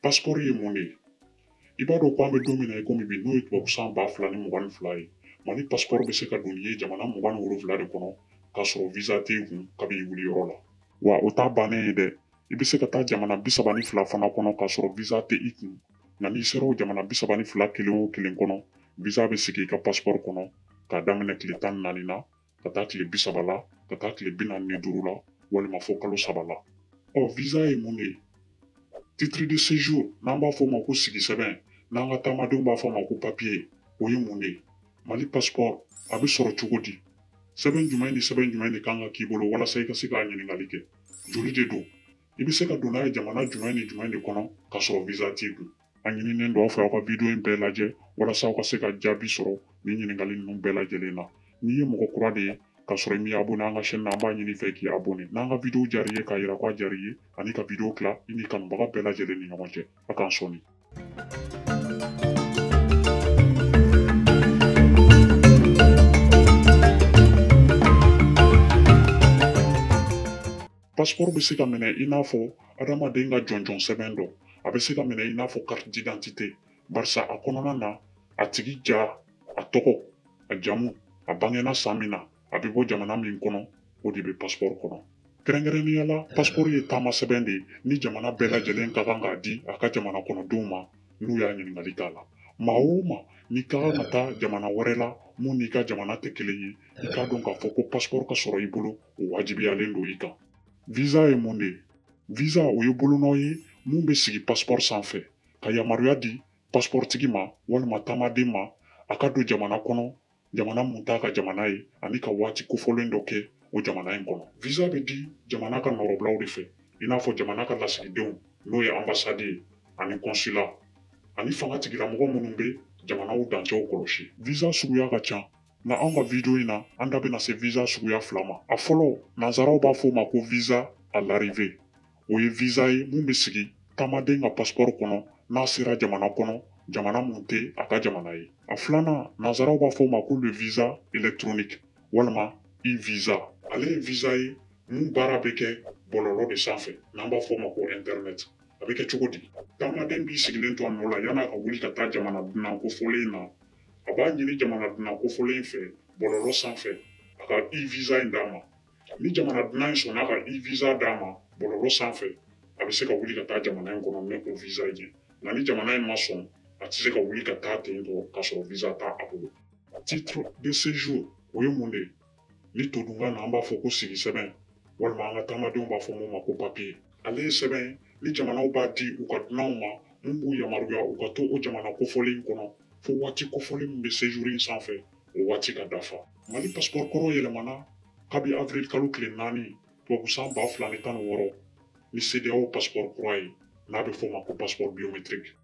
Paspɔri ye mun de ye i b'a dɔn ko an bɛ don min na i komi bi n'o ye tubabu san ba fila ni mugan ni fila ye mali paspɔri bɛ se ka don n'i ye jamana mugan ni wolonwula de kɔnɔ k'a sɔrɔ visa tɛ i kun kabi i wuli yɔrɔ la wa o t'a bannen ye dɛ i bɛ se ka taa jamana bi saba ni fila fana kɔnɔ k'a sɔrɔ visa tɛ i kun nka n'i sera o jamana bi saba ni fila kelen o kelen kɔnɔ visa bɛ sigi i ka paspɔri kɔnɔ k'a daminɛ tile tan ni naani na ka taa tile bi saba la ka taa tile bi naani ni duuru la walima fo kalo saba la ɔ visa ye mun de ye titre de séjour n'an b'a fɔ o ma ko sigi sɛbɛn n'an ka taamadenw b'a fɔ o ma ko papiye o ye mun de ye mali pasipɔri a bɛ sɔrɔ cogo di sɛbɛn jumɛn ni sɛbɛn jumɛn de kan ka k'i bolo walasa i ka se k'a ɲininkali kɛ joli de don i bɛ se ka don n'a ye jamana jumɛn ni jumɛn de kɔnɔ k'a sɔrɔ visa t'i kun A ɲininen don aw fɛ aw ka video in bɛɛ lajɛ walasa aw ka se ka jaabi sɔrɔ nin ɲininkali ninnu bɛɛ lajɛlen na. N'i ye mɔgɔ kura de ye k'a sɔrɔ i m'i abonné an ka chaîne na an b'a ɲini i fɛ k'i abonné n'an ka video diyara i ye k'a yira k'a diyara i ye ani ka video tila i n'i kanubaga bɛɛ lajɛlen ni ɲɔgɔn cɛ. A k'an sɔni. Pasiporo bɛ se ka minɛ i n'a fɔ adamaden ka jɔnjɔn sɛbɛn dɔ a bɛ se ka minɛ i n'a fɔ carte d'identité barisa a kɔnɔna na a tigi ja a tɔgɔ a jamu a bangena san min na a bɛ bɔ jamana min kɔnɔ o de bɛ pasiporo kɔnɔ kɛrɛnkɛrɛnnenya la pasiporo ye taama sɛbɛn de ye ni jamana bɛɛ lajɛlen ka kan k'a di a ka jamana kɔnɔdenw ma n'u y'a ɲininkali k'a la maa o maa n'i ka kan ka taa jamana wɛrɛ la mun n'i ka jamana tɛ kelen ye i k'a dɔn k'a fɔ ko pasiporo ka sɔrɔ i bolo o wajibiyalen don i kan visa ye mun de ye visa o ye bolonɔ ye mun bɛ sigi pasipɔri sanfɛ ka yamaruya di pasipɔritigi ma walima taamaden ma a ka don jamana kɔnɔ jamana mun t'a ka jamana ye ani ka waati kofɔlen dɔ kɛ o jamana in kɔnɔ visa bɛ di jamana ka nɔrɔbilaw de fɛ i n'a fɔ jamana ka lasigidenw n'o ye anbasadi ye ani kɔnsula ani fanga tigilamɔgɔ minnu bɛ jamanaw dancɛw kɔlɔsi visa suguya ka ca Nka anw ka video in na, an da bɛna se visa suguya fila ma. A fɔlɔ, nansaraw b'a fɔ o ma ko visa à l'arrivée. O ye visa ye mun bɛ sigi taamaden ka passeport kɔnɔ n'a sera jamana kɔnɔ, jamana mun tɛ a ka jamana ye. A filanan, nansaraw b'a fɔ o ma ko le visa électronique walima e-visa. Ale ye visa ye mun baara bɛ kɛ bɔlɔlɔ de sanfɛ n'an b'a fɔ o ma ko internet. a bɛ kɛ cogo di taamaden b'i sigilen to a nɔ la yan'a ka wuli ka taa jamana dunan kofɔlen in na a b'a ɲini jamana dunan kofɔlen in fɛ bɔlɔlɔ sanfɛ a ka e-visa in d'a ma ni jamana dunan in sɔnna ka e-visa d'a ma bɔlɔlɔ sanfɛ a bɛ se ka wuli ka taa jamana in kɔnɔ ni o visa ye nka ni jamana in ma sɔn a tɛ se ka wuli ka taa ten tɔ k'a sɔrɔ visa t'a bolo titre de séjour o ye mun de ye ni todunkan na an b'a fɔ ko sigi sɛbɛn walima an ka taamadenw b'a fɔ mun ma ko papiye ale ye sɛbɛn ye ni jamanaw b'a di u ka dunanw ma mun b'u yamaruya u ka to o jamana kofɔlen kɔnɔ fo waati kofɔlen min bɛ sejuru in sanfɛ o waati ka dafa mali pasipɔri kɔrɔ yɛlɛmana kabi avril kalo tile naani tubabusan ba fila ni tan ni wɔɔrɔ ni sedeyaw pasipɔri kura ye n'a bɛ f'o ma ko pasipɔri biometiriki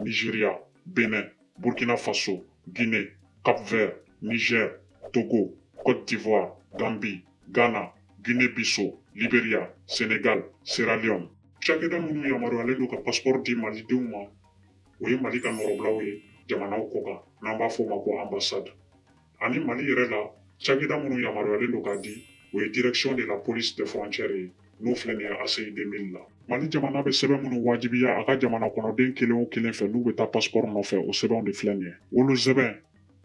Nigeria, Benin, Burkina Faso, Guinée, Cap-Vert, Niger, Togo, Côte d'Ivoire, Gambie, Ghana, Guinée-Bissau, Liberia, Sénégal, Sierra Leone. Cakɛda minnu yamaruyalen don ka paspɔri di malidenw ma o ye mali ka nɔrɔbilaw ye jamanaw kɔ kan n'an b'a fɔ o ma ko anbasadi ani mali yɛrɛ la cakɛda minnu yamaruyalen don k'a di o ye direction de la police des frontières ye n'o filɛ nin ye ACI 2000 la mali jamana bɛ sɛbɛn minnu wajibiya a ka jamana kɔnɔden kelen o kelen fɛ n'u bɛ taa paspɔr nɔfɛ o sɛbɛnw de filɛ nin ye wolosɛbɛn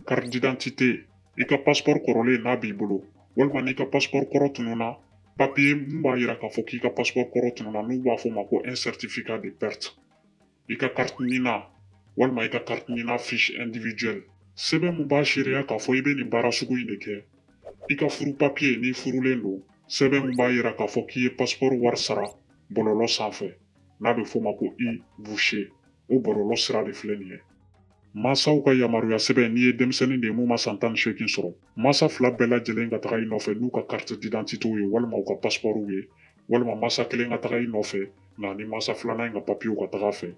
carte d'identité i ka paspɔr kɔrɔlen n'a b'i bolo walima n'i ka paspɔr kɔrɔ tununa papiye min b'a yira k'a fɔ k'i ka paspɔr kɔrɔ tununa n'u b'a f'o ma ko un certificat de perte i ka kariti NINA walima i ka kariti NINA fiche individuelle sɛbɛn min b'a seereya k'a fɔ i bɛ nin baara sugu in de kɛ i ka furu papiye n'i furulen don sɛbɛn min b'a yira k'a fɔ k'i ye pasipɔri wari sara bɔlɔlɔ sanfɛ n'a bɛ f'o ma ko e-voucher o bɔlɔlɔ sira de filɛ nin ye Mansaw ka yamaruya sɛbɛn n'i ye denmisɛnnin de ye mun ma san tan ni seegin sɔrɔ mansa fila bɛɛ lajɛlen ka taga i nɔfɛ n'u ka kariti didantitew ye walima u ka pasipɔriw ye walima masa kelen ka taga i nɔfɛ nka ni masa filanan in ka papiyew ka taga a fɛ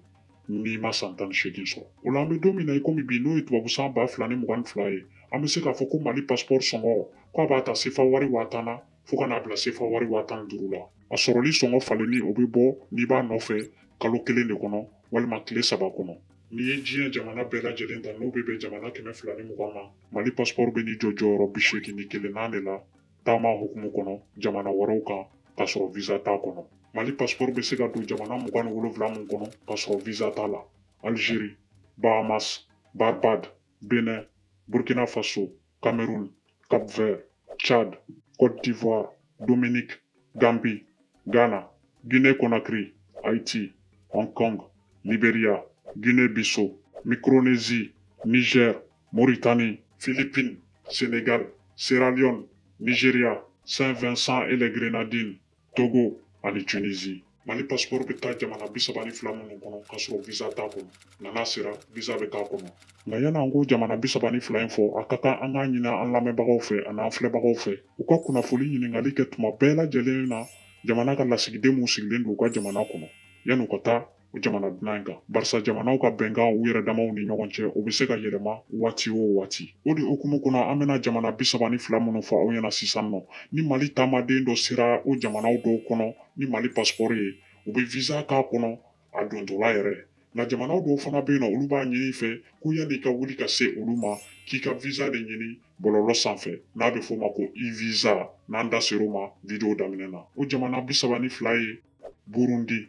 n'i ma san tan ni seegin sɔrɔ o la an bɛ don min na i komi bi n'o ye tubabu san ba fila ni mugan ni fila ye an bɛ se k'a fɔ ko mali pasipɔri sɔngɔ k'a b'a ta sefa wari waa tan na fo ka n'a bila sefa wari waa tan ni duuru la a sɔrɔli sɔngɔ falenni o bɛ bɔ n'i b'a nɔfɛ kalo kelen de kɔnɔ walima tile saba kɔnɔ n'i ye diɲɛ jamana bɛɛ lajɛlen ta n'o bɛ bɛn jamana kɛmɛ fila ni mugan ma mali pasipɔri bɛ n'i jɔ jɔyɔrɔ bi seegin ni kelennan de la taama hukumu kɔnɔ jamana wɛrɛw kan k'a sɔrɔ visa t'a kɔnɔ mali pasipɔri bɛ se ka don jamana mugan ni wolonwula min kɔnɔ k'a sɔrɔ visa t'a la algérie bahamas barbade bénin burkina faso cameroun cap vert tchad côte d'ivoire dominique gambie ghana guinée conakry haïti hong kong liberia guinée bissau micronésie niger Mauritanie, Philippines, Sénégal, Sierra Leone, Nigeria, Saint-Vincent et les Grenadines, Togo ani Tunisie. Mali passeport bɛ taa jamana bi saba ni fila minnu kɔnɔ k'a sɔrɔ visa t'a kɔnɔ nka n'a sera visa bɛ k'a kɔnɔ nka yan'an k'o jamana bi saba ni fila in fɔ a ka kan an k'a ɲini an lamɛnbagaw fɛ ani an filɛbagaw fɛ u ka kunnafoli ɲininkali kɛ tuma bɛɛ lajɛlen na jamana ka lasigiden minnu sigilen don u ka jamana kɔnɔ yan'u ka taa o jamana dunan in kan barisa jamanaw ka bɛnkan u yɛrɛ damaw ni ɲɔgɔn cɛ o bɛ se ka yɛlɛma waati o waati o de hukumu kɔnɔ an bɛna jamana bi saba ni fila minnu fɔ aw ɲɛna sisan nɔ ni mali taamaden dɔ sera o jamanaw dɔw kɔnɔ ni mali pasipɔri ye u bɛ visa k'a kɔnɔ a dontɔla yɛrɛ nka jamanaw dɔw fana bɛ yen nɔ olu b'a ɲini i fɛ ko yanni i ka wuli ka se olu ma k'i ka visa de ɲini bɔlɔlɔ sanfɛ n'a bɛ f'o ma ko e-visa n'an da ser'o ma video daminɛ na o jamana bi saba ni fila ye burundi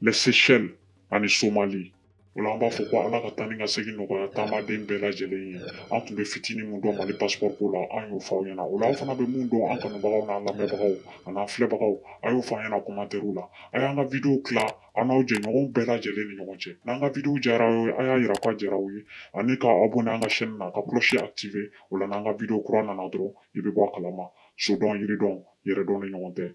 Les Seychelles ani Somali. O la an b'a fɔ ko Ala ka taa ni ka segin nɔgɔya taamaden bɛɛ lajɛlen ye. An tun bɛ fitini min dɔn Mali passeport ko la, an y'o fɔ aw ɲɛna. O la aw fana bɛ mun dɔn an kanubagaw n'an lamɛnbagaw an'an filɛbagaw, a y'o fɔ an ɲɛna commentaires la. A y'an ka video tila aw n'aw jɛɲɔgɔnw bɛɛ lajɛlen ni ɲɔgɔn cɛ. N'an ka video diyara aw ye, a y'a jira k'a diyara aw ye ani ka abonner an ka chaîne na, ka cloche activer. O la n'an ka video kura nana dɔrɔn, i bɛ bɔ a kalama. Sodɔn, yiridɔn, yɛrɛdɔn de ɲɔgɔn tɛ.